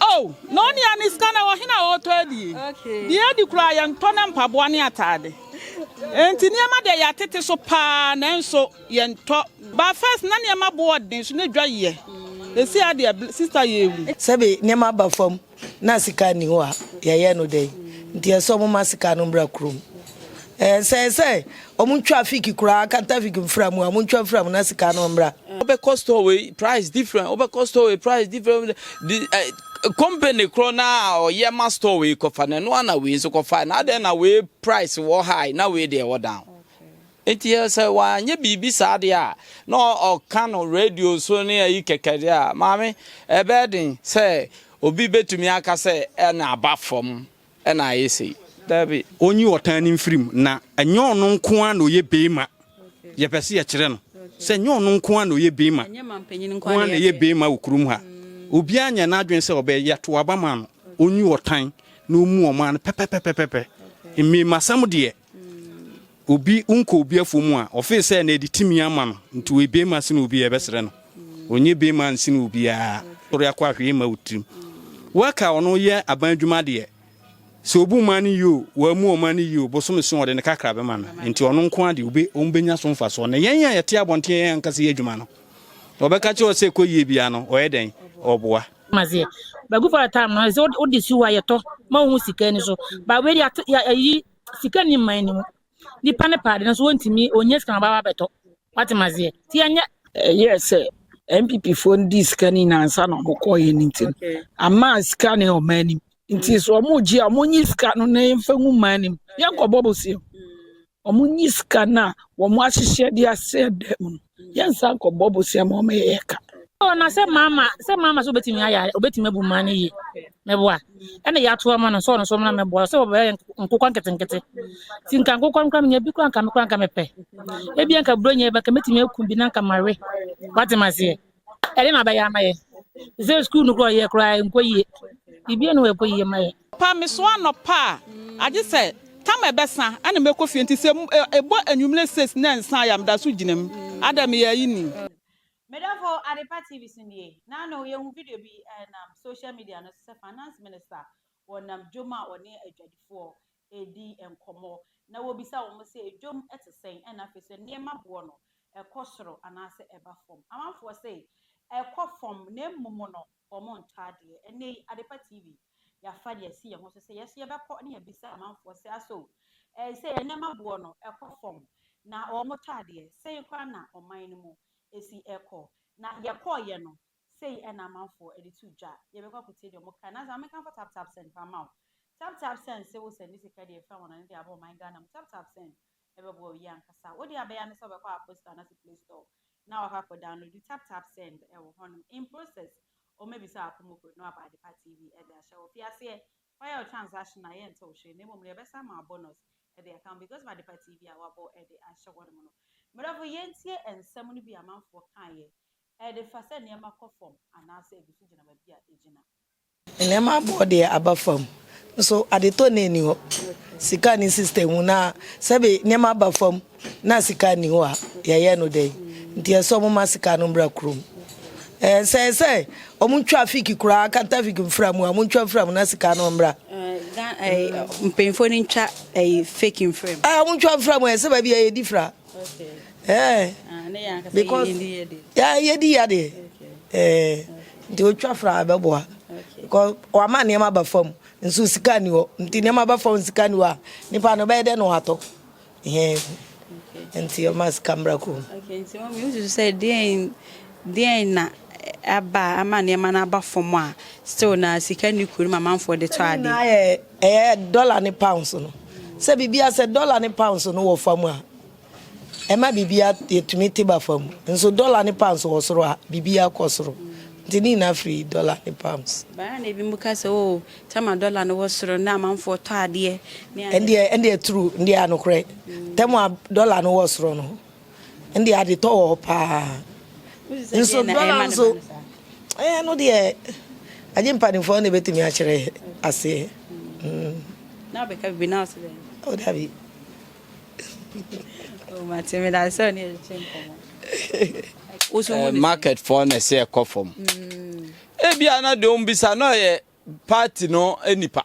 Oh, na onua ne sika na ɛwɔ hena a ɔretɔ adie? Deɛ adi koraa yɛntɔ na mpaboa ne ataade. Enti nneɛma deɛ yɛatete so paa nanso yɛntɔ. But first na nneɛma bo wɔ den so na dwa yɛ. Ɛsi ha deɛ sister yɛ awu. Sɛbe nneɛma aba fam na sika nni hɔ a yɛyɛ no dɛn? Nti ɛsɛ ɔmoma sika no mmra kurom. Ɛsɛɛ sɛ ɔmo twa fig koraa kata fig mfra mu a ɔmo ntwa mfra mu na sika no mmra. Wobɛkɔ store wei price different wobɛkɔ store wei price different di ɛ company korɔ no a ɔyɛ ma store wei kɔfa no ɛno ana wei nso kɔfa na adɛn na wei price wɔ high na wei deɛ wɔ down. Nti sɛ wanyɛ biribi saa deɛ a na ɔka no radio so ne ayi kɛkɛ deɛ a maame ɛbɛyɛ den sɛ obi bɛtumi aka sɛ ɛna aba fam na ayɛ sei. Dabi. Ɔnyi ɔtan no mfiri mu. Na ɛnyɛ ɔno nko ara na ɔyɛ beema. Yɛpɛ sɛ yɛkyerɛ no sɛ ɛnyɛ ɔno nko ara na ɔyɛ beema. Ɛnyɛ mampanyin nko ara na ɛyɛ beema wɔ kurom ha. Obiara nyɛ n'adwene sɛ ɔbɛyɛ toaba ma no. Ɔnyi ɔtan na ɔmmu ɔman no pɛpɛpɛpɛpɛ. Mmarimasɛm deɛ, Obi nkɔ obi afɔ mu a, ɔfee sɛ na ɛde tumi ama no, nti ɔyɛ beema sene obi a ɛbɛsrɛ no. Ɔnyɛ beema nsene obiara, ɔsɔre akɔ a hwee mma wo tirim. Worker ɔno yɛ aban adwuma deɛ, sɛ ɔbu mmaa no yie o, wammu wɔn mmaa no yie o, bosome so ɔde ne kakra bɛma no, nti ɔno nko ara deɛ ɔbɛnya so mfasoɔ. Na yɛn a yɛte abɔnten a yɛn ankasa yɛ adwuma no, ɔbɛka kyerɛ wo sɛ kɔ yie biara no, ɔyɛ dɛn? Ɔboa. Maseɛ. Bagu for a time no, ɛsɛ wode si hɔ a yɛtɔ ma wo ho sika ani so. But wei deɛ yɛayi sika nni mman no mu. Nnipa no pɛ ade no so wɔntumi, wɔnyɛ sika ma baba bɛtɔ. Wate ma aseɛ? Ti ɛnyɛ. Ɛyɛ sɛ NPP foɔ no di sika no nyinaa nsa na wɔn kɔɔ yɛn nti no. Ama sika no yɛ ɔman anim. Nti so wɔn gye a wɔn nyi sika no na yɛn fɛ ngu mman anim. Yɛn kɔ bɔ bɔ si. Wɔn nyi sika no a wɔn ahyehyɛ de asɛ dɛm no. yɛnsa nkɔbɔ bosea ma ɔma yɛyɛ ka oh na sɛ mama sɛ mama so betumi ayɛ obetumi abu ma ne yie mɛboa ɛna yɛato ama no sɛ ɔno so mmra mɛboa sɛ wɔbɛyɛ nkokɔ nketenkete nti nka nkokɔ no kora menya bi kora nka me kora nka mepɛ ebi nka buro nyɛ bɛka mɛtumi aku bi na nka mawe wate maseɛ ɛde na bɛyɛ ama yɛ sɛ sukuu no kora ɔyɛ kora nkɔ yie biribiara no ɛkɔ yie ma yɛ Pa me so anɔpa a agye sɛ tam ɛbɛsa ɛna mɛkɔ fie nti sɛ ɛbɔ anwumerɛ six na ɛnsa a ya meda so gyina mu ada meyɛ ayi ni. Me dɔfo Adepa TV so nie. Naano yɛhu video bi ɛnam social media no so sɛ Finance Minister wɔ nam dwom a ɔne adwadifoɔ redi nkɔmmɔ na wɔbisa wɔn sɛ dwom te sɛn ɛna afei nso nneɛma boɔ no ɛkɔ soro anaasɛ ɛba fam. Amanfoɔ se ɛkɔ fam na mmom no Wɔn ntɔ adeɛ. Ɛnnɛ yi, Adepa TV, yɛafa deɛ asi yɛn ho so sɛ yɛn nso yɛbɛkɔ ne yɛabisa amanfoɔ sɛ asɔ o, ɛɛ sɛ yɛn nneɛma boɔ no ɛkɔ fam, na wɔn tɔ adeɛ, sɛn koraa na ɔman no mu ɛsi ɛkɔ. Na yɛkɔeɛ no, sei na amanfoɔ ɛde too dwa. Yɛbɛkɔ akɔtie deɛ wɔn kaeɛ. Nansa, menkamfo Tap Tap Send koraa mma wo. Tap Tap Send se wo sɛnde sika deɛ ɛfiri anwanwano de aba ɔman Ghana mu. Tap Tap Send, ɛbɛboa obi ankasa. Wo deɛ abɛyɛ ne sɛ wobɛkɔ App Store anaasɛ Play Store na wakɔ akɔ download tap tap send wɔ hɔnom. In process, wɔbɛbisa wo akomokoɔ na wɔaba Adepa TV de ahyɛ wo. Fi aseɛ, fa yɛ wo transaction a yɛnte wo hwee na mmom no yɛbɛsan ama wo bonus de aka ho because of Adepa TV a wɔabɔ de ahyɛ hɔnom no. Mmerɛfo, yɛntie nsɛm no bi a amanfoɔ kaeɛ de fa sɛ nneɛma kɔ fam anaasɛ ɛgu so gyina baabi a ɛgyina. Nneɛma aboɔ deɛ aba fam nso adetɔ na ɛni hɔ. Sika ne sister hu na sɛbe nneɛma aba fam na sika nni hɔ a yɛyɛ no dɛn? Nti ɛsɛ wɔn ma sika no mmra kurom. Ɛɛ sɛ ɛsɛ wɔn ntwa fiki koraa kanta fiki mfra mu a wɔn ntwa mfra mu na sika no mmra. Mpanyinfoɔ no ntwa fake mfra mu. Ɛɛ wɔn ntwa mfra mu ɛsɛ baabi a yɛdi fra. Eh, because yeah, yeah, yeah, yeah. Eh, nti otwa fra abɛboa. Because wama nneɛma ba fam, nso sika ni hɔ. Nti nneɛma ba fam sika ni hɔ a, nipa no bɛyɛ dɛ na watɔ. Eh, nti ɔma sika mbra kɔ. Okay, nti wɔn mi nsusu sɛ deɛn deɛn na aba ama nneɛma no aba fam a still na sika ni kuro no ma amanfoɔ de tɔ ade. Ɛyɛ dɔla ne pounds no. Sɛ biribiara, sɛ dɔla ne pounds no wɔ fam a, ɛma biribiara yɛ tumi te ba fam. Nso dɔla ne pounds wɔ soro a, biribiara kɔ soro. Nti ne nyinaa firi dɔla ne pounds. Baa na ebinom ka sɛ, oh, tam a dɔla no wɔ soro no na amanfoɔ tɔ adeɛ ne adeɛ. Ɛndeɛ, ɛndeɛ true, ɛndeɛ anokorɛ. Tam a dɔla no wɔ soro no, Ɛnde ade tɔ wɔ hɔ paa. Nso dɔla nso, ɛɛ no deɛ, agye mpanimfoɔ na ɛbɛtumi akyerɛ aseɛ. Mm. Na ɔbɛka bibi na ɔsɛ dɛ. Oh, dabi. Oh, mate me da sɛ ɔne ɛkyɛ nkɔmɔ. Eh, market fɔ na ɛsɛ ɛkɔ fam. Mm. Ebia na deɛ ɔmbisa na ɔyɛ party no nipa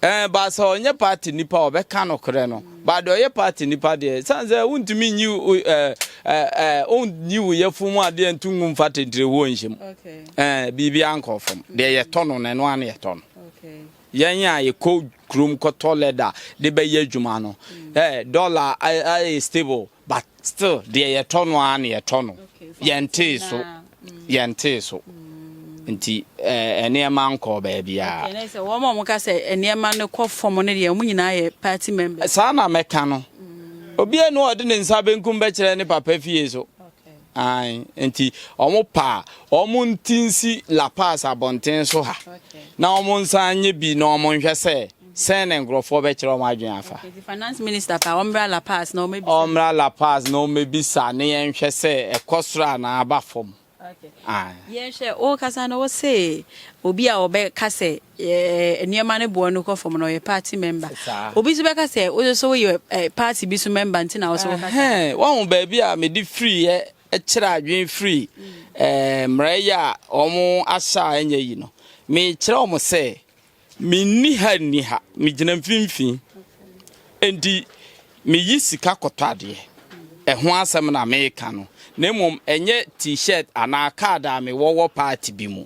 ɛn eh, baasa ɔnyɛ party nipa ɔbɛka no korɛ no baade ɔyɛ party nipa deɛ san sɛ wontumi nyi ɛɛ ɛɛ wonyi wo yɛfo mu adeɛ nto ngu nfa tentire wɔ nhyɛ mu ɛɛ biribi ankɔ fam deɛ yɛtɔ no na ɛno ano yɛtɔ no yɛn a yɛkɔ kurom kɔtɔ leather de bɛyɛ adwuma no eh, dollar ayɛ stable but still deɛ yɛtɔ no ara na yɛtɔ no yɛntee so mm. yɛntee so mm. nti eh, nneɛma nkɔɔ baabiara wɔn a wɔka sɛ nneɛma no kɔ fam no deɛ wɔn nyinaa yɛ party members saa na mɛka no mm. obiara no ɔde ne nsa benkum bɛkyerɛ ne papa fie so Aane, enti wɔpa a, wɔnte nsi La Paz abɔnten so ha, na wɔnsan nyɛ bi na wɔnhwɛ sɛ, sɛn na nkurɔfoɔ bɛkyerɛ wɔn adwene afa. Okay, nti finance minister paa, wɔmmra La Paz na wɔmmɛbisa. Wɔmmra La Paz na wɔmmɛbisa na yɛnhwɛ sɛ ɛkɔ soro anaa aba fam. Okay. Aane. Yɛnhwɛ, wokasa no wose obi a ɔbɛka sɛ yɛ nneɛma no boɔ no kɔ fam na ɔyɛ party member obi nso bɛka sɛ wo nso woyɛ eh, party bi so member nti na wo so wokasa wahu baabi a mede firiiɛ kyerɛ adwene firi eh, mmerɛyɛ a wɔn ahyɛ a ɛnyɛ yi no mekyerɛ wɔn sɛ menni ha nni ha megyina mfimfini enti meyi sika kɔtɔ adeɛ ɛho asɛm na meka no na mmom ɛnyɛ t-shirt anaa card a mewɔ wɔ party bi mu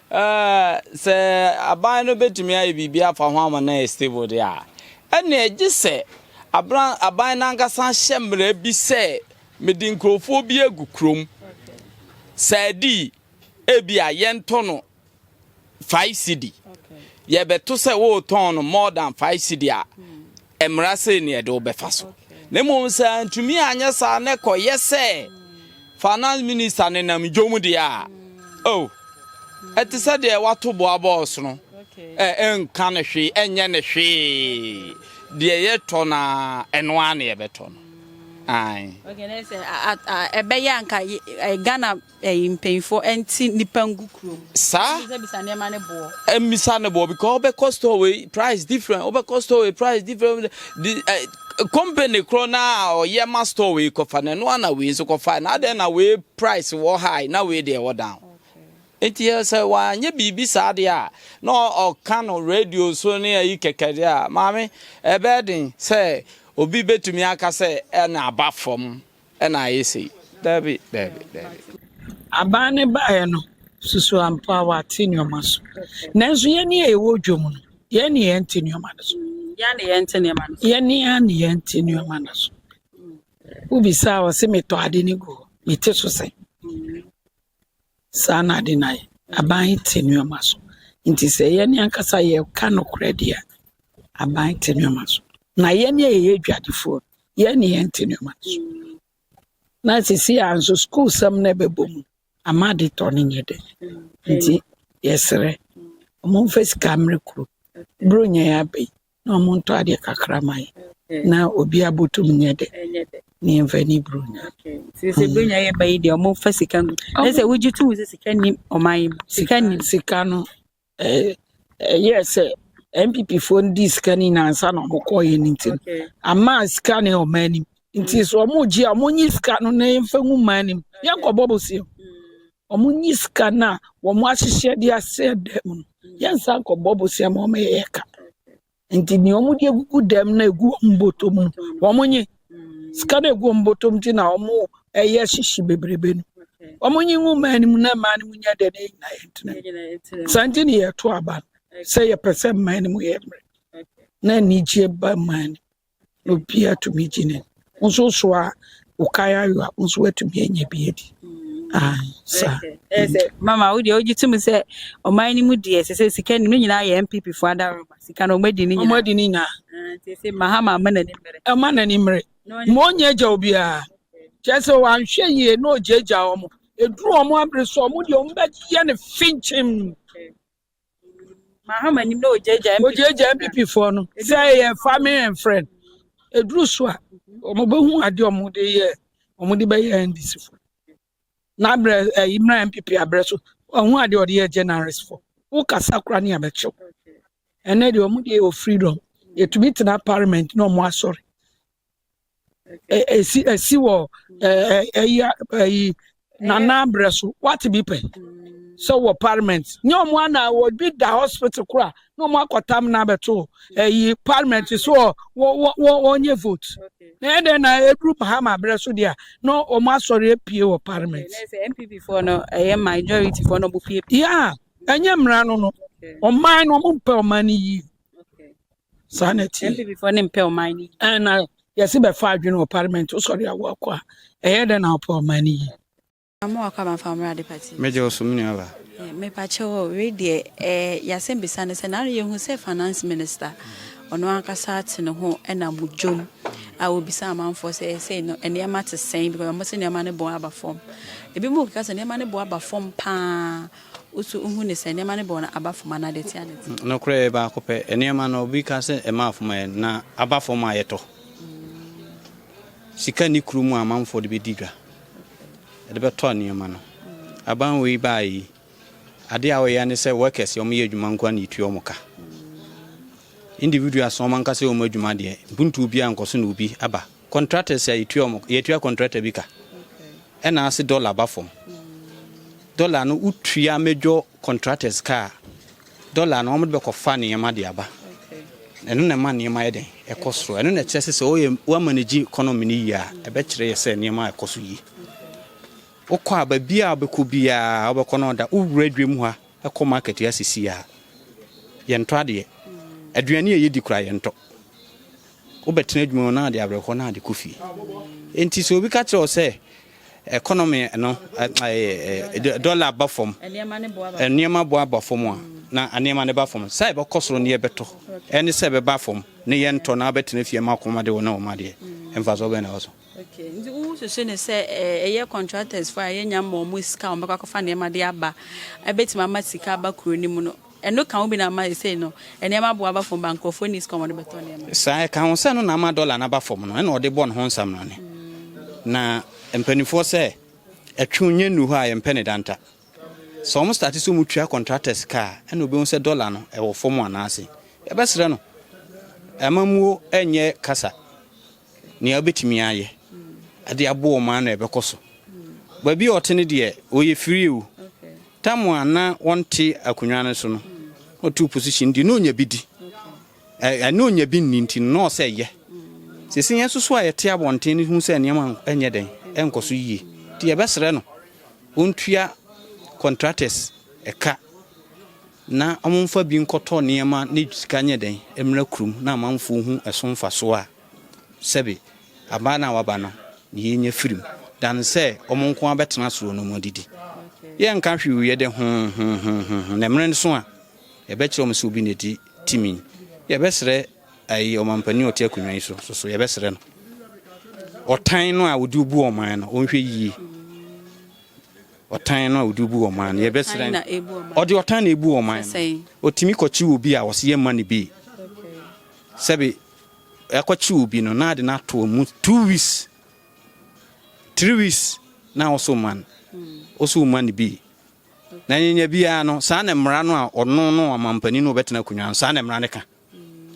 Ɛɛ, sɛ aban no betumi ayɛ biribi afa ho ama no ayɛ stable de a, ɛnneɛ gye sɛ abran, aban no ankasa hyɛ mmara bi sɛ mede nkurɔfoɔ bi agu kurom. Saadi, ebi a yɛntɔ no five cedi. Yɛbɛto sɛ woretɔn no more than five cedi a, Ɛmmra sɛ nea ɛde wo bɛfa so, na mmom sɛ antumi anyɛ saa na ɛkɔyɛ sɛ Finance Minister nenam dwom deɛ a, oh, ɛte sɛ deɛ wato boa bɔɔs no, ɛnka no hwee, ɛnyɛ no hwee. Deɛ yɛtɔ no a, ɛno ara na yɛbɛtɔ no. Ae. Okay, na sɛ ɛbɛyɛ anka Ghana Ɛyi mpanyinfoɔ ɛnte nipa ngu kurom. Saa. Ɛnti sɛ bisa nneɛma ne boɔ. Ɛmisa ne boɔ because ɔbɛkɔ store wei price different ɔbɛkɔ store wei price different di ɛ eh, company korɔ na ɔyɛ ma store wei kɔfa na ɛno ana wei nso kɔfa na adɛn na wei price wɔ high na wei deɛ ɛwɔ down. Nti yɛ sɛ wanyɛ biribi saa deɛ a na ɔka no radio so ne ayi kɛkɛ deɛ a maame ɛbɛyɛ den sɛ obi bɛtumi aka sɛ ɛna aba fam. Ɛna ayɛ sei. Dabi, dabi, dabi. Aban no baeɛ no, susuaa mpo a wɔate nneɛma so. Nanso yɛn a yɛwɔ dwa mu no, yɛn na yɛnte nneɛma no so. Yɛn a na yɛnte nneɛma no so. Yɛn a na yɛnte nneɛma no so. Wobisa a, ɔse metɔ ade no gu hɔ. Mete so sɛn? Saa na ade no ayɛ. Aban te nneɛma so. Nti sɛ yɛn ankasa yɛka nokorɛ deɛ a, aban te nneɛma so. Na yɛn a yɛyɛ adwadifoɔ no, yɛn ne yɛnte nneɛma no so. Na sisi a nso sukuusɛm no bɛbɔ mu ama ade tɔ no nyɛ dɛ. Nti yɛsrɛ, momfa sika mmrɛ kurom. Bere nyɛɛ abɛ yi, na ɔmo ntɔ adeɛ kakra ma yɛn na obia botum nyɛ dɛ na yɛmfa ani bere Onyame. Nti sɛ bere nya yɛ ba yi deɛ ɔmo fa sika gu. Ɛyɛ sɛ wogye to mu sɛ sika nim ɔman yi mu. Sika nim. Sika no ɛyɛ sɛ NPP foɔ no dii sika no nyinaa ansa na ɔmo kɔɔ yɛ no nti no ama sika no ɔman nim. Nti sɛ ɔmo gye a ɔmo nyi sika no na yɛmfa ngu man nim. Yɛnkɔbɔ bosea. Wɔnyi sika no a wɔahyehyɛ de asɛɛ dan mu no, yɛnsan nkɔbɔ bosea ma wɔn yɛyɛ ka. Nti nea wɔde agugu dan mu na egu wɔn bɔtɔ mu no, wɔnyi. Sika no egu wɔn bɔtɔ mu ti na wɔyɛ hyehye bebrebe no. Wɔnyi ngu mmaa no mu na mmaa no mu nyɛ dɛ na yɛnyina yɛn tena. Saa nti na yɛto aba no sɛ yɛpɛ sɛ mmaa no mu yɛ mmerɛ na anigyeɛ ba mmaa no. Na obiara tumi gye no. Wo nso wosoa wo kan ayo a, wo nso woatumi anya bi adi. Ae, saa. Ɛyɛ sɛ mama wo deɛ wogye tom sɛ ɔman no mu deɛ ɛsɛ sɛ sika nim no nyinaa yɛ MPP fo adaworoma. Sika no wɔadi ne nyinaa. Wɔadi ne nyinaa. Ah, nti ɛsɛ Mahama ama n'ani mmere. Ɛma n'ani mmere. Ma ɔnyɛ agya obiara. Kyerɛ sɛ wɔanhwɛ yie na ɔgyaagyaa wɔn. Ɛduru wɔn abere so a, wɔn deɛ wɔbɛyɛ no finkyim. Mahama nim na ogyaagyaa MPP. Ogyaagyaa MPP foɔ no. Sɛ ɛyɛ family and friend. Eduru so a wɔn bɛhu ade a wɔn de yɛ wɔn de bɛyɛ NDC fo. N'abrɛ ɛyi mmra MPP abrɛ so wɔn ho ade a wɔde yɛ generous fo. Wokasa kora ne abɛkyew. Ɛnɛ deɛ wɔn deɛ wɔ freedom. Yɛtumi tena parliament na wɔn asɔre. esi esi wɔ ɛɛ ɛyi ɛyi nana abrɛ so wate bi pɛ sɛ wɔ parliament nye wɔn ana obi da hospital kora na wɔn akɔtam na abɛto ɛyi parliament so wɔ wɔ wɔ wɔnyɛ vote na yɛ dɛ na eduru mahama abrɛ so deɛ na wɔn asɔre apue wɔ parliament. npp fɔ no ɛyɛ majority fɔ no ɔmo pie. yaa ɛnyɛ mmara no no ɔman no ɔmo mpɛ ɔman no yie. saa na ɛteɛ. NPP foɔ ne mpɛ ɔman no yi. Ɛn na yɛse bɛfa adwene wɔ parliament wosɔre a woakɔ a ɛyɛ dɛn na wopɛ ɔman no yi. Na mo wakɔ aba mfa mmra department. Me gye wo so me nua ba. Eh me pa kyɛw oh wei deɛ eh yasɛm bisa ne sɛ na yɛ hu sɛ finance minister ɔno ankasa ate ne ho ɛna mo dwom a obisa amanfoɔ sɛ ɛsɛ no nneɛma te sɛn because ɔmo sɛ nneɛma ne bo aba fam ebi mo keka sɛ nneɛma ne bo aba fam paa Woso nhu ne sɛ nneɛma no bɔ na aba fam anaa deɛ ɛte a na ɛte. Nokorɛ yɛ baako pɛ. Nneɛma no obi ka sɛ ɛma afom ayɛ na aba fam a yɛtɔ. Sika nni kuro mu a amanfoɔ de bɛdi dwa. Yɛde bɛtɔ nneɛma no. Aban wei baeɛ yi adeɛ a wɔyɛ ne sɛ workers wɔn yɛ adwuma nko ara na yɛtua wɔn ka. Individuals wɔn ankasa yɛ wɔn adwuma deɛ mpuntuo biara nkɔ so na obi aba. Contractors a yɛtua wɔn, yɛtua contractor bi ka, ɛna ase dollar ba fam. Dollar no wotua major contractors ka a, dollar no wɔde bɛkɔfa nneɛma de aba. Ɛno na ɛma nneɛma yɛ dɛn? Ɛkɔ soro. Ɛno na ɛkyerɛ sɛ sɛ woyɛ woamanage economy no yie a, ɛbɛkyerɛ yɛ sɛ nneɛma ɛkɔ so yie. Wokɔ a baabi a wobɛkɔ biara wobɛkɔ no ɔda wowura adwam ha kɔ market ha sisi a yɛntɔ adeɛ. Aduane a yɛdi koraa yɛntɔ. Wobɛtena adwuma mu na ade awerɛhoɔ na ade kɔ fie. Enti sɛ obi ka kyerɛ wo sɛ economy no, dollar aba fam, nneɛma bo aba fam a, na nneɛma no ba fam. Sɛ ɛbɛkɔ soro na yɛbɛtɔ, ɛne sɛ ɛbɛba fam na yɛntɔ na wobɛtena fie ma akoma de wo na wɔn adeɛ. Mfasoɔ bɛn na ɛwɔ so? Okay, nti wosusu ne sɛ eh, ɛyɛ contractors fo a yɛnya ma wɔn sika a wɔbɛkɔ akɔfa nneɛma de aba, ɛbɛtumi ama sika aba kuro no mu no. Ɛno ka ho bi na ama seesei no nneɛma bo aba fam ba nkurɔfoɔ nni sika a wɔde bɛtɔ nneɛma. Saa, ɛka ho sɛ ɛno na ama dɔla no aba fam no, ɛna wɔde bɔ ne ho nsaminane. Na mpanimfoɔ sɛ ɛtwe nnya nnuru hɔ a yɛmpɛ ne danta. Sɛ wɔn starte sɛ wɔtua contractor sika a, ɛna wɔbɛhu sɛ dɔla no ɛwɔ fam anaa ase. Yɛbɛsrɛ no amammuo ɛnyɛ kasa nea wobɛtumi ayɛ ɛde aboa wɔn ano ɛbɛkɔ so. Baabi a ɔte no deɛ wɔyɛ firii o. Tam a na wɔnte akonnwa no so no, na ɔte opposition nti na ɔnya bi di. Ɛ, na ɔnya bi nni nti no, na ɔsɛ yɛ. Seesei yɛn nso so a yɛte abɔnten no hu sɛ nneɛma nyɛ dɛn, ɛnkɔ so yie. Nti yɛbɛsrɛ no ɔntua contractors ɛka na wɔmfa bi nkɔtɔ nneɛma na sika nyɛ dɛn, mmra kurom na amanfoɔ hu ɛso mfasoɔ a sɛbe Abaa no a waba no na yenya firi mu dan sɛ wɔn nko ara bɛtena soro no mu adidi. Yɛnka hwee wɔ yɛde ho ho ho ho ho, na mmerɛ no so a, yɛbɛkyerɛ wɔn sɛ obi na edi timi. Yɛbɛsrɛ ayi ɔmampanin a ɔte akonnwa yi so nso so, yɛbɛsrɛ no ɔtan no a ɔde bu ɔman no, ɔnhwɛ yie. Ɔtan no a ɔde bu ɔman no, yɛbɛsrɛ no. Ɔde ɔtan na ebu ɔman no. Ɔtumi kɔkye obi a ɔse yɛmma no bi. Sɛbe Yɛakɔkye obi no na ade no ato wɔn mu two weeks, three weeks na wɔso ma no. Wɔso ma no bi. Na nyanya biara no, saa na mmara no a ɔno no ɔmampanin no ɔbɛtena akonnwa no, saa na mmara no ka.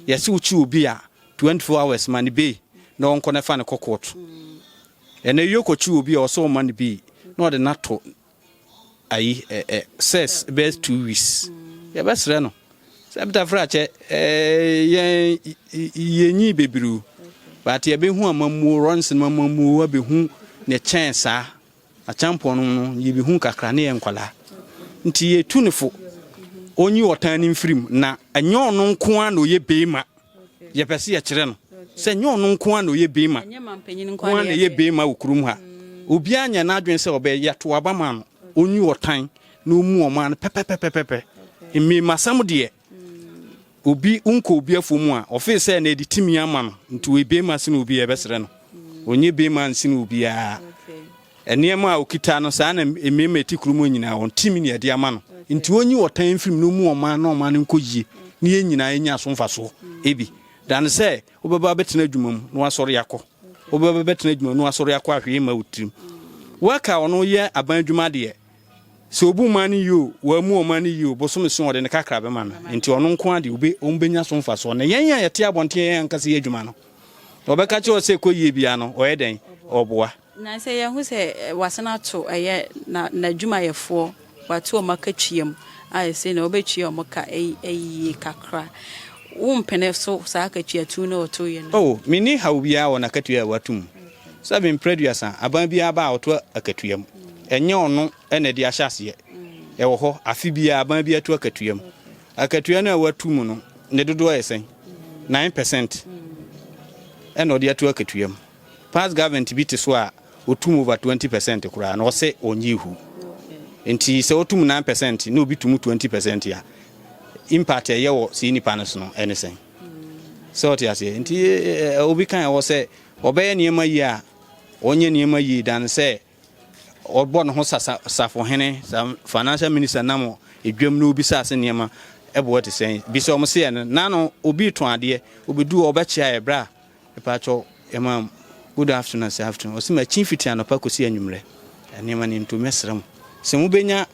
Yɛse wokye obi a 24 hours ma no bei na ɔnkɔ no fa no kɔ kɔɔto. Ɛnɛ yokɔkye obi a ɔsɛ ɔma no bi na ɔde no ato ayi ɛ ɛ sɛs bɛyɛ two weeks yɛbɛsrɛ no sɛ ɛbɛta fira kyɛ ɛɛ yɛn yɛnyi bebree o baate yɛbɛhu amammuo rɔns no amammuo abɛhu ne kyɛn saa akyɛmpɔn no no yɛbɛhu kakra ne yɛ nkwalaa nti yɛtu ne fo ɔnyi ɔtan ne mfirim na ɛnyɛ ɔno nko a na ɔyɛ beema yɛpɛ sɛ yɛkyerɛ no sɛ nyɛ ɔno nko ara na ɔyɛ bema nko ara na ɛyɛ bema wɔ kurom ha obiara nyɛ n'adwene sɛ ɔbɛyɛ to aba ma no ɔnyi ɔtan na ɔmu ɔma no pɛpɛpɛpɛpɛ mmɛmasɛm deɛ obi nkɔ obi afo mu a ɔfee sɛ na ɛde timi ama no nti ɔyɛ bema sene obi a ɛbɛsrɛ no ɔnyɛ bema nsene obiara Nneɛma a okita no, saa na mmarima a ɛte kurom nyinaa, wɔn tirim na yɛde ama no. Nti onyi ɔtan mfiri mu na ommu wɔn mma na wɔn mma no nkɔ yie na yɛn nyinaa yɛnya so mfasoɔ. Ebi dane sɛ wobɛba abɛtena adwuma mu na wasɔre akɔ. Wobɛba bɛtena adwuma mu na wasɔre akɔ a hwee mma wo tirim. Worker ɔno yɛ aban adwuma deɛ, sɛ obu mma no yie o, wammu wɔn mma no yie o, bosome so ɔde ne kakra bɛma no. Nti ɔno nko ara deɛ wɔbɛnya so mfasoɔ. Na yɛn a yɛte abɔnten a yɛn ankasa yɛ adwuma no, wɔbɛka kyerɛ wo sɛ kɔ yie biara no, ɔyɛ dɛn? Ɔboa. Na sɛ yɛhu sɛ wɔasan ato ɛyɛ na n'adwumayɛfoɔ, wɔato wɔn aka tua mu a, ɛsei na wobɛtua wɔn ka ayie kakra. Wompene so saa akatua tu no a ɔtoeɛ no? Oh, menni haw biara wɔ n'akatua a wɔato mu. Sɛbe mprɛ aduasa, aban biara ba a ɔto akatua mu. Ɛnyɛ ɔno na ɛde ahyɛ aseɛ. Ɛwɔ hɔ, afe biara aban biara to akatua mu. Akatua no a wɔato mu no, ne dodoɔ yɛ sɛn? Nine pɛsɛnt na ɔde ato akatua mu. Past government bi te so a otum over twenty percent koraa na ɔse ɔnye hu. Nti sɛ otum nine percent na obi tum twenty percent a, impact a ɛyɛ wɔ sii nipa no so no ɛne sɛn? Sɛ ɔte aseɛ? Nti obi kan ɛwɔ sɛ ɔbɛyɛ nneɛma yie a ɔnyɛ nneɛma yie dan sɛ ɔbɔ ne ho sa safohene sa financial minister nam edwam na obi sa ase nneɛma ɛboɔ te sɛn? Bi sɛ ɔmo seɛ no, nano obi tɔn adeɛ, obedu ɔbɛkyea ɛbrɛ a Mpatsɔ ma good afternoon ase afternoon ɔse ma kyin fitri anɔpa kosi anwummerɛ nneɛma ni nto mɛsrɛ mo sɛ mo bɛnya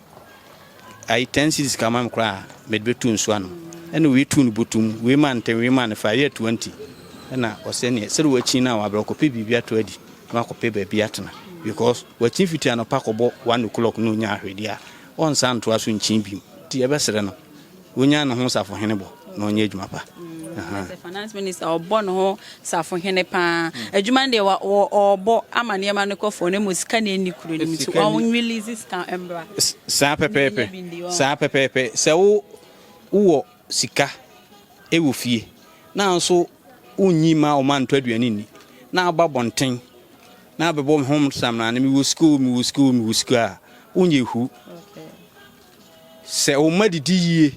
ayi ten cities ka ma me koraa mɛde bɛtu nsu ano ɛna wei tu no botum wei ma ntɛm wei ma no fa yɛ twenty ɛna ɔsɛ neɛ sɛde wakyin no a wabrɛ ɔkɔpɛ biribi ato adi na wakɔpɛ baabi atena because wakyin fitri anɔpa kɔbɔ one o'clock na ɔnya ahwɛdi a ɔnsa ntoa so nkyin bim nti yɛbɛsrɛ no Wonya ne ho safohene bɔ na ɔnyɛ adwuma pa. Sɛ finance minister ɔbɔ ne ho safohene paa. Adwuma no deɛ ɔbɔ ama nneɛma no kɔ fɔɔ na mmom sika na ɛnni kuro no mu nti ɔnwilizi sika mmra. Saa pɛpɛɛpɛ, saa pɛpɛɛpɛ. Sɛ wo wowɔ sika wɔ fie na nso wonnyi mma wo ma ntɔ aduane nni na aba bɔnten na abɛbɔ ho samena no mewɔ sika o, mewɔ sika o, mewɔ sika a, wonyɛ hu. Sɛ wɔn mma didi yie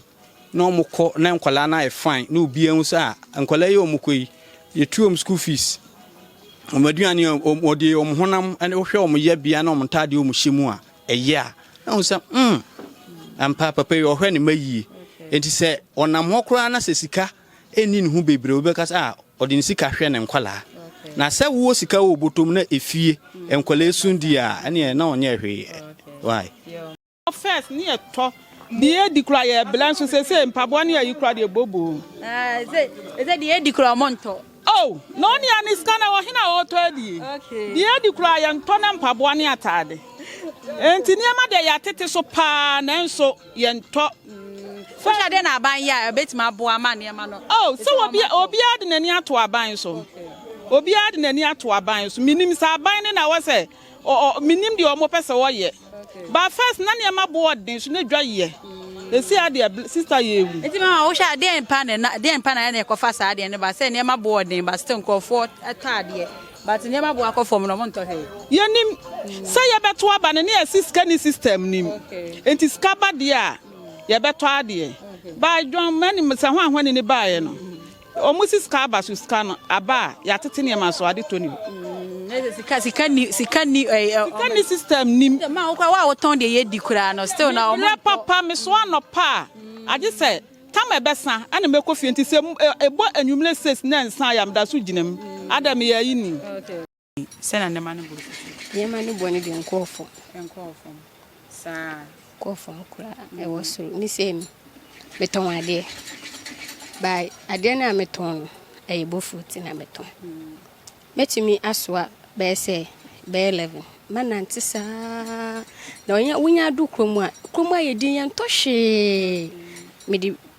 na wɔkɔ na nkwadaa no ayɛ fine na obiara hu sɛ ah nkwadaa yi a wɔkɔ yi yɛtu wɔn school fees, wɔn aduane, wɔn wɔde wɔn honam ne wohwɛ wɔn yɛbea ne wɔn ntaadeɛ a wɔhyɛ mu a ɛyɛ a na wɔn sɛ mm ampa papa yi ɔhwɛ ne mma yie. Nti sɛ ɔnam hɔ koraa na sɛ sika ɛnni ne ho bebree wobɛka sɛ ah ɔde ne sika hwɛ ne nkwadaa. Na sɛ wowɔ sika wɔ bɔtɔ mu na efie nkwadaa yi so di a ɛneɛ na ɔnyɛ hwee. Why? First ne yɛ tɔ deɛ edi kura yɛ blɛ nso sese mpaboa ne ayi kura deɛ bobo. Ah, ɛsɛ ɛsɛ deɛ edi kura ɔmo ntɔ. Oh, na ɔne a ne sika na wɔ hena ɔtɔ adie. Okay. Deɛ edi kura yɛ ntɔ ne mpaboa ne ataade. Enti nneɛma deɛ yɛ atete so paa nanso yɛ ntɔ. First. Wohyɛ dɛ na aban yɛ a ebetumi aboa ama nneɛma no. Oh, sɛ obi obiara de n'ani ato aban so. Okay. Obiara de n'ani ato aban so. Minim sɛ aban ne na wɔ sɛ. Ɔ ɔ menim deɛ ɔmo pɛ sɛ ɔyɛ but first na nneɛma bo ɔden so na dwa yɛ ɛsi ha deɛ bl sister yɛ ɛwu. Nti mama wohwɛ a deɛn pa ne na deɛn pa na yɛ na ɛkɔfa saa deɛ no ba sɛ nneɛma bo ɔden but still nkorɔfoɔ tɔ adeɛ but nneɛma bo akɔ fam no ɔmo ntɔ hwee. Yɛnim sɛ yɛbɛto aba no ne yɛsi sika ni system nim nti sika ba deɛ a yɛbɛtɔ adeɛ but dwan manim sɛ hwan hwan ni ne baeɛ no Wɔsi sika aba so, sika no aba a yɛatete nneɛma so ade tɔ ni hɔ. Mm, sika sika ni sika ni ɛɛ eh, eh, sika ni system nim. Ma wo kora wa wotɔn deɛ yɛ di koraa no still na wɔn. Mmerɛ papa me so anɔpa a agye sɛ tam ɛbɛsa ɛna mɛkɔ fie nti sɛ ɛbɔ anwummerɛ six na nsa ya meda so gyina mu ada meyɛ ayi ni. Enti, sɛnea nneɛma no boro so te. Nneɛma no bɔne de nkɔɔ fam. Nkɔɔ fam. Saa. Kɔɔ fam koraa ɛwɔ soro. Ne sɛ mi, metɔn adeɛ. Ba adeɛ no a metɔn no, ɛyɛ bofuro ti na metɔn. Mɛtumi asoa bɛyɛ sɛ bɛyɛ 11. Mɛnante saa. Na wonya adu kurom a, kurom ayɛ din, yɛntɔ hwee. Mede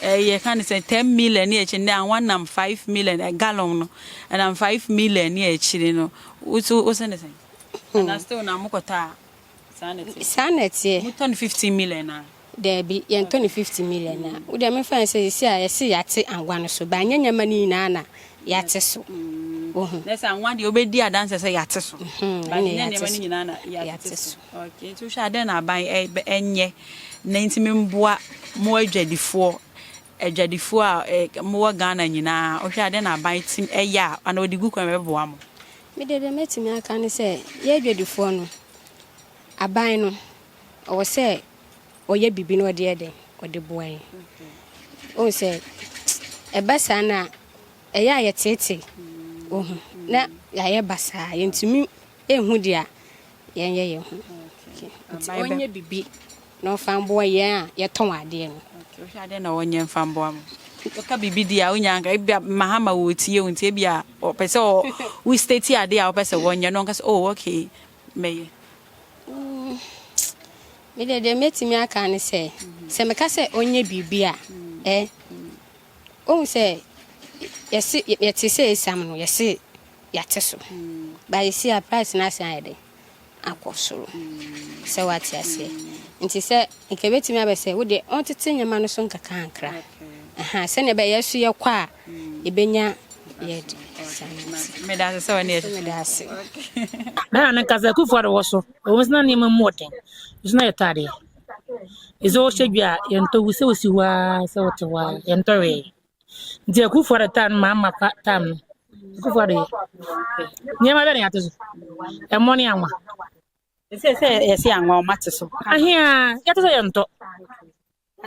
eh, yɛka no sɛ 10 million ne akyiri ndɛ anwa nam 5 million eh, gallon no ɛnam 5 million ne akyiri no woso wosɛ ne sɛn hmm. ana still na mokɔtɔ a saa na ɛteɛ saa na ɛteɛ motɔ no 15 million na daabi yɛntɔ no 50 million a hmm. wodeɛ mefa sɛ ɛsi a yɛse yɛate anwa no so baanyɛ nyɛma no nyinaa na yɛate so. Wohu? Na sɛ anwa deɛ wobɛdi adanseɛ sɛ yɛate so. Ba ne nneɛma no nyinaa na yɛate so. Okay, nti wohwɛ adɛn na aban ɛnyɛ na nti memboa mo adwadifoɔ adwadifoɔ a mowɔ Ghana nyinaa wohwɛ adɛn na aban tim ɛyɛ a ana ɔde gu kwan bɛboa mo? Me deɛ deɛ mɛtumi aka ne sɛ yɛ adwadifoɔ no aban no ɔwɔ sɛ ɔyɛ biribi na ɔde yɛ dɛn ɔde boa yɛn ohun sɛ ɛba saa na ɛyɛ a yɛteetee ohun na yɛayɛ basaa yɛntumi ehu deɛ a yɛnyɛ yɛn ho nti ɔnyɛ biribi na ɔfa mboa yɛn a yɛtɔn adeɛ no. wohwɛ adeɛ na ɔnyɛ mfa mboa mo ɔka biribi di a wonya nka ebia mahama wɔ tie wo nti ebia ɔpɛ sɛ wo state adeɛ a wopɛ sɛ wɔnyɛ no ɔnka sɛ oh okay mɛyɛ? Mm, me deɛ deɛ mɛtumi aka ne sɛ, sɛ meka sɛ ɔnyɛ biribi a, ɛ, ɔhu sɛ yɛse yɛte sɛ ɛsiam no yɛse yɛate so ba yɛsi a price no asan ayɛ dɛn akɔ soro sɛ wate aseɛ nti sɛ nka ɛbɛtumi abɛ sɛ wodeɛ ɔntete nneɛma no so nkakrankra sɛdeɛ ɛbɛyɛ so yɛkɔ a yɛbɛnya yɛd Meda ase sɛ wɔne yɛhyehyɛ. Meda ase. Bɛyɛ no nkasa akufoɔ de wɔ so ɛwɔ sɛ na nneɛma mu ɔden nso na yɛtɔ adeɛ ɛsɛ wɔhyɛ dwa a yɛntɔ wu sɛ wɔsi hɔ ara sɛ wɔte hɔ ara yɛntɔ wee nti akufoɔ de tam no maa ma pa tam no akufoɔ de nneɛma bɛ ne yɛate so ɛmmɔ ne anwa ɛsɛ sɛ yɛse anwa ɔma te so ahea yɛte sɛ yɛntɔ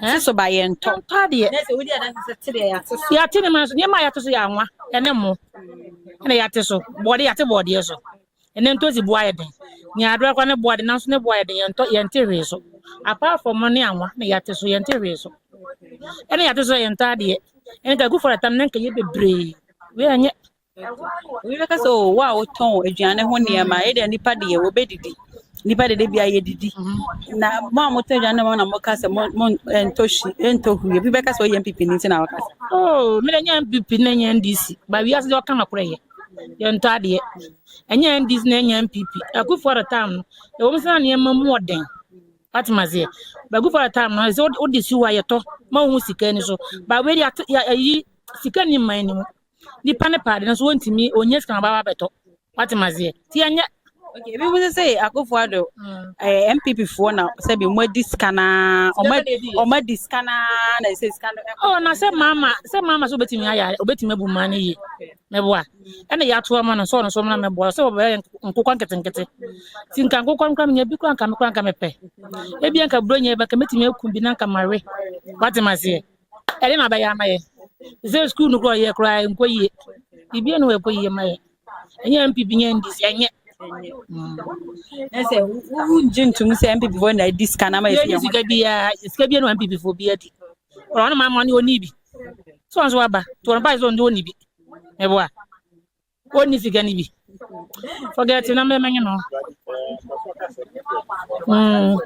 Nanso ba yɛntɔ. Mpa deɛ. Nɛsɛ wodi adanse sɛ te deɛ yɛate so. Yɛate ne ma so nneɛma a yɛate so yɛ anwa ɛne mmo ɛna yɛate so bɔɔde yɛate bɔɔdeɛ so ɛnɛ ntosi boa yɛ den ne adoa kora ne boa de nanso ne boa yɛ den yɛntɔ yɛnte hwee so apart from ne anwa na yɛate so yɛnte hwee so ɛna yɛate so yɛntɔ adeɛ ɛne ka gu fɔrɔ tam ne nka yɛ bebree wei ɛnyɛ obi bɛka sɛ oh, wo a wotɔn aduane ho nneɛma ɛdeɛ eh, nipa deɛ wɔbɛdidi nipa deɛ de bia yɛdidi mm-hmm. na mo a motɔ aduane ho na moka sɛ montɔ hyi ɛntɔ huri obi bɛka sɛ ɔyɛ mpp no nti na wɔka sɛ oh, mene nyɛ mpp na ɛnyɛ ndc ba wiase deɛ ɔka makorɛ yɛ yɛntɔ adeɛ ɛnyɛ ndc na ɛnyɛ mpp akufoɔ de tam no ɛwɔ m sɛ na nneɛma mu ɔden atoma seɛ bagufoɔ de tam no ɛsɛ wode si hɔ a yɛtɔ ma wo ho sika ni so ba wei de ayi sika ni mman ni mu nipa ne pɛ ade no so wɔntumi ɔnya sika ma baba bɛtɔ wate maseɛ nti ɛnyɛ Okay, ebi mo sɛ sɛ akofo ado ɛɛ eh, MPP foɔ na sɛbi ɔmo adi sika naa ɔmo ɔmo adi sika naa na ɛsɛ sika no ɛkɔ. ɔ na sɛ maama sɛ maama sɛ obetumi ayɛ obetumi abu mmaa no yie mɛboa ɛna yɛato ama no sɛ ɔno so ɔmo na mɛboa sɛ ɔbɛyɛ nkokɔ nketenkete ti nka nkokɔ nkora menya bi kora nka me kora nka mepɛ ebi nka buro nyɛ bɛka metumi aku bi na nka mawe wate ma seɛ. ɛde na bɛyɛ ama yɛ sɛ sukuu no kora yɛ kora nkɔ yie biribiara no ɛkɔ yie ma yɛ ɛnyɛ mpp nyɛ ndc ɛnyɛ ɛsɛ wongye ntom sɛ mpp fo na ɛdi sika no ama yɛdi sika biara sika biara na mpp fo bi adi ɔrɔ no ma ma ne ɔni bi so ɔnso waba to ɔno bae sɛ ɔnde ɔni bi meboa wɔnni sika no bi forget na mmɛmɛnye no mm.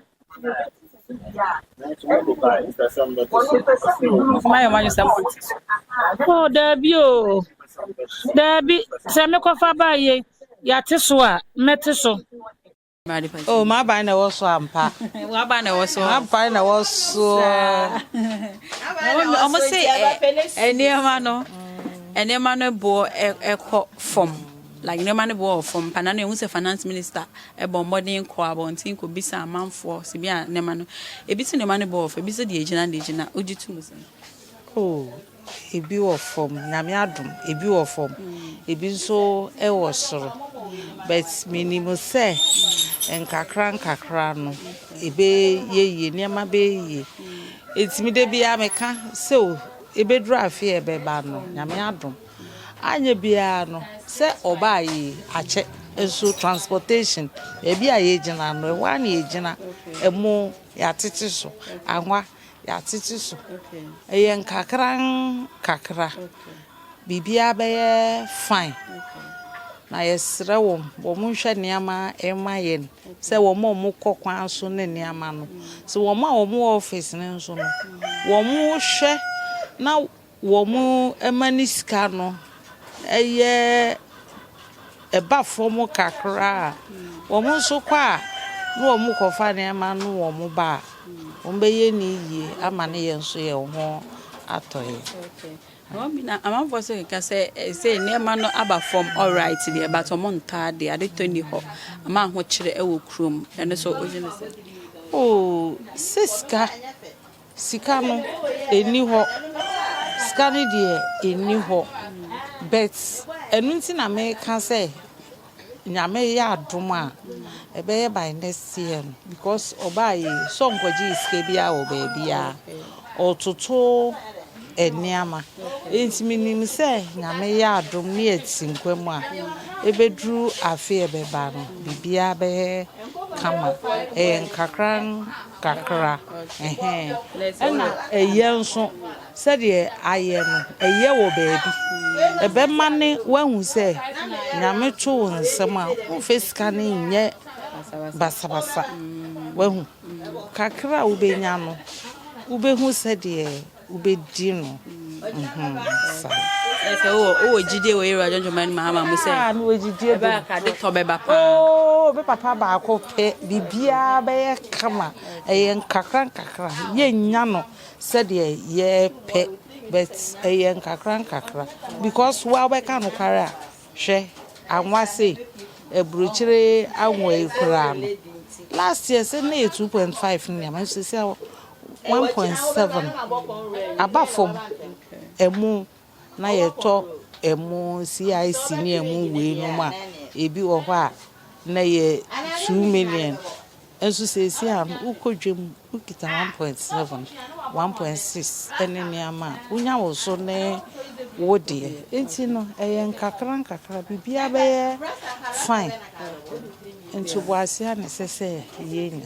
mayɛ mayɛ sɛ o oh, daabi o oh. daabi sɛ mekɔfa baayɛ yɛate so a mɛte so Oh, m'aban na ɛwɔ so ampa. W'aban na ɛwɔ so. M'aban na ɛwɔ so. Wɔn se nneɛma no nneɛma no boɔ ɛkɔ fam like nneɛma no boɔ wɔ fam pa na no ehu sɛ finance minister ɛbɔ mmɔden kɔ abɔnten kɔ bisa amanfoɔ sɛ bi a nneɛma no ebi se nneɛma no boɔ wɔ fam ebi se deɛ egyina deɛ egyina ogye tum sɛn. Oh. Ebi wɔ fam, Nyame adom, ebi wɔ fam, ebi nso wɔ soro. But menim sɛ nkakra nkakra no, ɛbɛyɛ yie, nneɛma bɛyɛ yie. Enti me da biara meka sɛ o, ɛbɛduru afe a ɛbɛba no, Nyame adom. Anyɛ biara no, sɛ ɔbaa yie, akyɛ. Nso transportation, baabi a yɛgyina no, ɛhɔ ara na yɛgyina. Ɛmo, yɛatete so, anwa. Yɛatete so. Ɛyɛ nkakrankakra. Biribiara bɛyɛ fine. Na yɛsrɛ wɔn, wɔnhwɛ nneɛma mma yɛn sɛ wɔn a wɔkɔ kwan so ne nneɛma no. Sɛ wɔn a wɔwɔ office no nso no, wɔhwɛ na Wɔma ne sika no yɛ ɛba fam kakra a, wɔn nso kɔ a na wɔkɔfa nneɛma no wɔn ba a, wɔbɛyɛ no yie ama no yɛn nso yɛn ho atɔ yɛn. Okay. Mɔmina amanfoɔ so keka sɛ ɛsɛ eh, nneɛma no aba fam alright deɛ but ɔmo ntaa deɛ ade tɔ ni hɔ ama ahokyerɛ ɛwɔ kurom ɛno so wogye ne sɛ. Oh, sɛ sika Sika no ɛnni hɔ sika no deɛ ɛnni hɔ but ɛno nti na meka sɛ nyame yɛ adom a ɛbɛyɛ by next year no because ɔbaa yɛ sɛ ɔnkɔgye yɛ sika biara wɔ baabiara ɔtoto nneɛma nti menim sɛ nyame yɛ adom ne ɛti nkwa mu a ɛbɛduru afe ɛbɛba no biribiara bɛyɛ kama ɛyɛ nkakra kakra ɛhɛɛ ɛna ɛyɛ nso sɛdeɛ ayɛ no ɛyɛ wɔ baabi ɛbɛma ne wahu sɛ nyame to wo nsɛm a womfɛ sika no nyɛ basabasa wahu kakra a wobɛnya no wobɛhu sɛdeɛ Wobɛdi no ho saa. Sɛ wowɔ wowɔ gyidie wɔ Yehowa adwuma no mahama mu sɛ. Ah, mewɔ gyidie bɛ. Ɛbɛyɛ ka de tɔ bɛba paa. Oo, me papa baako pɛ biribiara bɛyɛ kama. Ɛyɛ nkakra nkakra. Yɛnnya no sɛdeɛ yɛpɛ but ɛyɛ nkakra nkakra because wo a wobɛka nokware a Hwɛ anwa sei aburokyire anwa yi koraa no last year sɛ na yɛ two point five ne nneɛma nso sɛ one point seven aba fam ɛmo na yɛtɔ ɛmo CIC ne ɛmo wei nom a ebi wɔ hɔ a na yɛ two million. Nso seesei a wokɔ dwam, wokita one point seven, one point six ne nneɛma a, wonya wo so ne wo deɛ. Nti no, ɛyɛ nkakra nkakra, biribiara bɛyɛ fine. Ntoboase a na ɛsɛ sɛ yɛnya.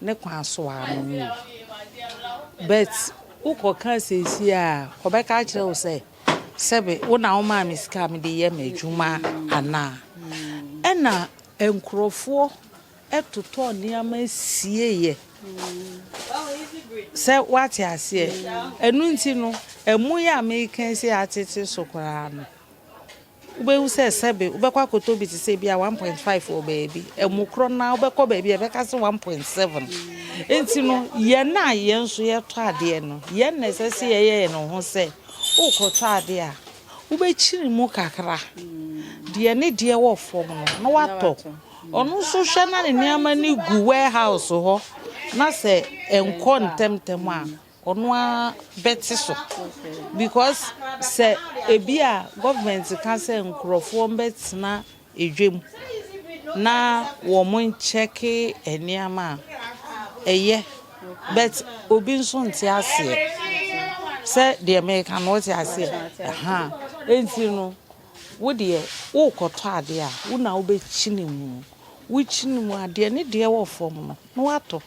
Ne kwan so ara no no o. But wokɔ ka seesie a, ɔbɛka akyerɛ wo sɛ, sɛbe wo na wo maa me sika a me de yɛ m'adwuma anaa. Ɛna nkurɔfoɔ totɔ nneɛma sieeɛ. Sɛ wate aseɛ. Ɛno nti no, ɛmo yi a meka seesei atete so koraa no. Wobɛhu sɛ sɛbe wobɛkɔ akɔtɔ bi te sɛ bi a 1.5 wɔ baabi, ɛmo korɔ no ara wobɛkɔ baabi a ɛbɛka sɛ 1.7. Nti no, yɛn a yɛn nso yɛtɔ adeɛ no, yɛn na ɛsɛ sɛ yɛyɛ yɛn ho sɛ wokɔtɔ adeɛ a, wobɛkyini mu kakra deɛ ne deɛ wɔ fam no na watɔ. Ɔno nso hwɛ na ne nneɛma no gu warehouse hɔ na sɛ ɛnkɔ ntɛmntɛm a, Ɔno ara bɛte so because sɛ ebi a government ka sɛ nkurɔfoɔ mbɛtena edwam na wɔn nkyɛke nneɛma a, ɛyɛ but obi nso nte aseɛ sɛ deɛ meka no wote aseɛ ɛhaa nti no. Wo deɛ worekɔtɔ adeɛ a, wo na wobɛkyini mu. Wokyini mu a, deɛ ne deɛ wɔ fam no, na woatɔ.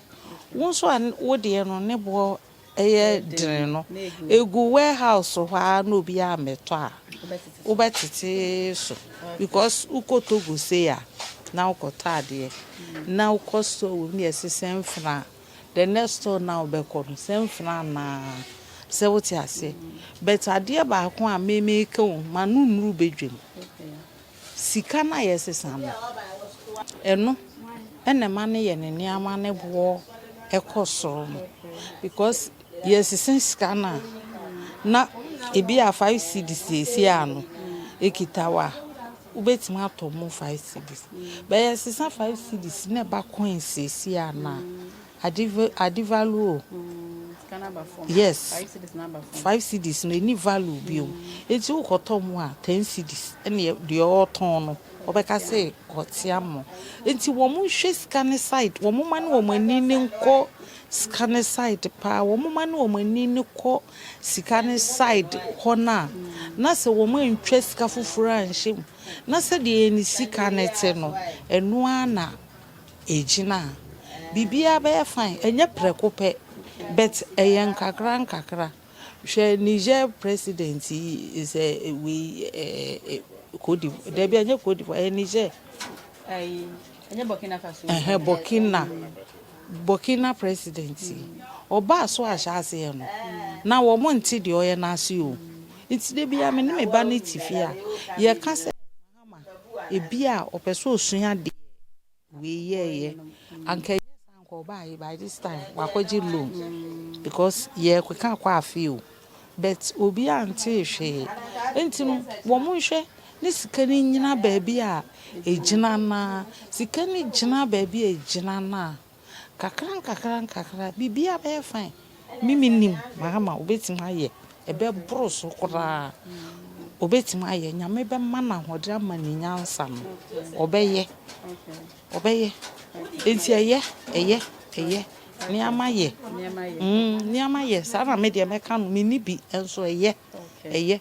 Wo nso a wo deɛ no ne boɔ yɛ dene no, ɛgu warehouse hɔ ara na obiara mmɛtɔ a, wobɛtete so. Because wokɔ Togo sei a, na wokɔtɔ adeɛ, na wokɔ store wei mu na yɛsesa mfena a, the next store no a wobɛkɔ no sɛ mfena anaa sɛ wote aseɛ but adeɛ baako a memeka o ma no nnuru badwam sika no a yɛsesa no ɛno ɛna ɛma no yɛ ne nneɛma ne boɔ ɛkɔ soro no because yɛsesa sika no a na ebi a five cedis yɛsi a no ekita wa Wobɛtumi atɔ mu five cedis. Bɛyɛ ɛsesa five cedis na ɛba coins seesie a na ade ade value o. Yes, five cedis no ɛni value bio. Eti wokɔtɔ mu a ten cedis ɛne deɛ ɔretɔn no ɔbɛka sɛ ɔte ama. Eti wɔn nhwɛ sika ne side, wɔn mma ne wɔn ani ne nkɔ sika ne side paa, wɔn mma ne wɔn ani ne kɔ. sika no side hɔ no a, na sɛ wɔantwa sika foforɔ anhyɛ mu, na sɛdeɛ ne sika no te no, ɛno ara na ɛgyina a, biribiara bɛyɛ fine. Ɛnyɛ prɛko pɛ, but ɛyɛ nkakra nkakra. Hwɛ Niger president yi, is a wei ɛɛ Cote d'Ivoire, dabi ɛnyɛ Cote d'Ivoire, ɛyɛ Niger. Ɛyi. Ɛhɛn, Burkina, Burkina president yi, ɔbaa so ahyɛaseɛ no, na wɔn nte deɛ ɔyɛ no ase o. Nti da biara me ne me ba no te fie a, yɛka sɛ Mahama, ebi a ɔpɛ sɛ ɔsua deɛ wei yɛeɛ. Anka ɛnyɛ saa Anka ɔbaaye by this time wakɔgye loan because yɛkeka kɔ afee o but obiaa ntee hwee nti no wɔn nhwɛ ne sika no nyina baabi a ɛgyina no ara sika no gyina baabi a ɛgyina no a kakra nkakra nkakra biribiaa bɛyɛ fine me menim mahama obɛtumi ayɛ ɛbɛboro so koraa obɛtumi ayɛ nyame bɛma no ahoɔden ama ne nyansa no ɔbɛyɛ. Ɔbɛyɛ. Enti ɛyɛ, ɛyɛ, ɛyɛ. Nneɛma yɛ. Nneɛma yɛ. Saa na me deɛ mɛka no. Menni bi nso ɛyɛ, ɛyɛ.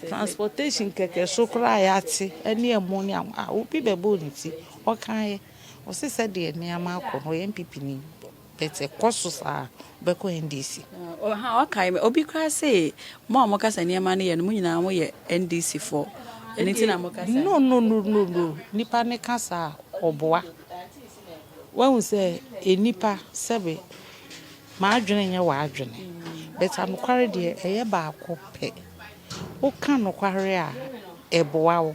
Transportation kɛkɛ so koraa a yɛate ne ɛmo ne awo a, obi bɛbɔɔ ne ti, ɔkaeɛ. Ɔse sɛdeɛ nneɛma akɔ no, ɔyɛ NPP ni. But ɛkɔ so saa, wobɛkɔ NDC. Ɔhaa ɔkae me obi koraa see mo a moka sɛ nneɛma no yɛ no mo nyinaa mo yɛ NDC foɔ ɛno nti na moka saa. No no no no no nipa no ka saa ɔboa wahu sɛ enipa sɛbe m'adwene nyɛ w'adwene but anokware deɛ ɛyɛ baako pɛ woka nokware a ɛboa wo.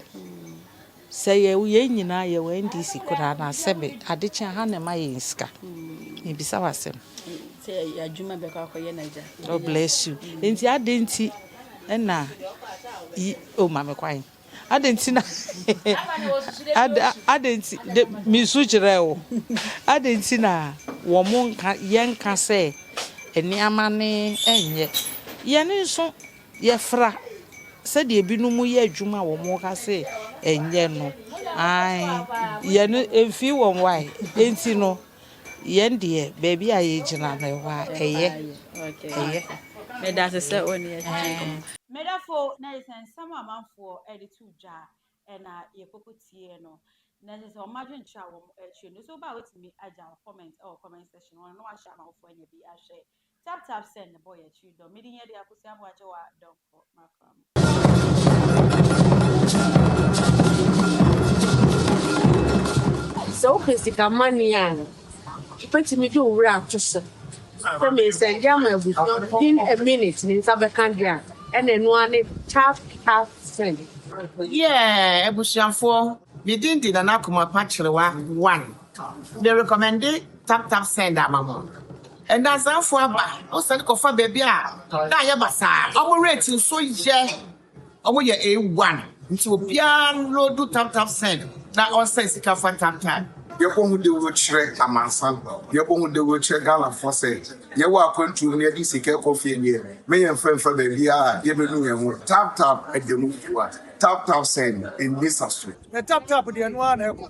Sɛ yɛ yɛn nyinaa yɛ wɔ NDC koraa no a sɛ me ade kye a ha na ɛma yɛn sika. Mebisa wo asɛm. Sɛ yɛ adwuma bɛkɔ akɔyɛ no agya. God bless you. Nti ade nti na yi o ma me kwan. Ade nti na ade nti de me su kyerɛ o. Ade nti na wɔn nka yɛnka sɛ nneɛma ne ɛnyɛ. Yɛn nso Yɛfra, sɛdeɛ ebinom yɛ adwuma a wɔka se ɛnyɛ no, ae, yɛn no ɛmfii wɔn wae, enti no, yɛn deɛ baabi a yɛgyina no ɛhɔ ara, ɛyɛ, ɛyɛ. Meda ase sɛ wo ne yɛn twetwe nkɔmmɔ. Medafo, na kyerɛ sɛ nsɛm a amanfoɔ de to dwa na yɛkɔkɔ tie no, na kyerɛ sɛ wɔn adwenkyerɛ a wɔkyerɛ no. So wo ba a watumi agya wo comment wɔ comment section hɔ no na wahyɛ amanfoɔ anya bi ahwɛ Tap tap send the boy akyiri dɔ. Mede nyɛ de akosi abo agye wa dɔm kɔ makra mu. Sɛ wopɛ sika mane a, wobɛtumi de wo wura ato so sɛ mesɛnde ama abusua within a minute ne nsa bɛka deɛ a ɛna ɛno ara ne tap tap send. Yeah abusuafoɔ, me din de Nana Komapa Kyerewa one. Me rekɔmɛnde tap tap send ama mo. Ndansafo aba wo sane kɔfa baabi a na ayɛ basaa ɔmo rate nso yɛ ɔmo yɛ A one nti obiara nloadu tap tap send na ɔnsan sika fa tap tap. Yɛbɔ ho dawuro kyerɛ amansan, yɛbɔ ho dawuro kyerɛ Ghanafoɔ sɛ yɛwɔ akwantuo mu na yɛde sika rekɔ fie deɛ, me yɛn mfa mfa baabiara a yɛbɛnu yɛn ho. Tap tap ɛda mu fua, tap tap send ɛnni saso. Tap tap deɛ ɛno ara na ɛkɔ.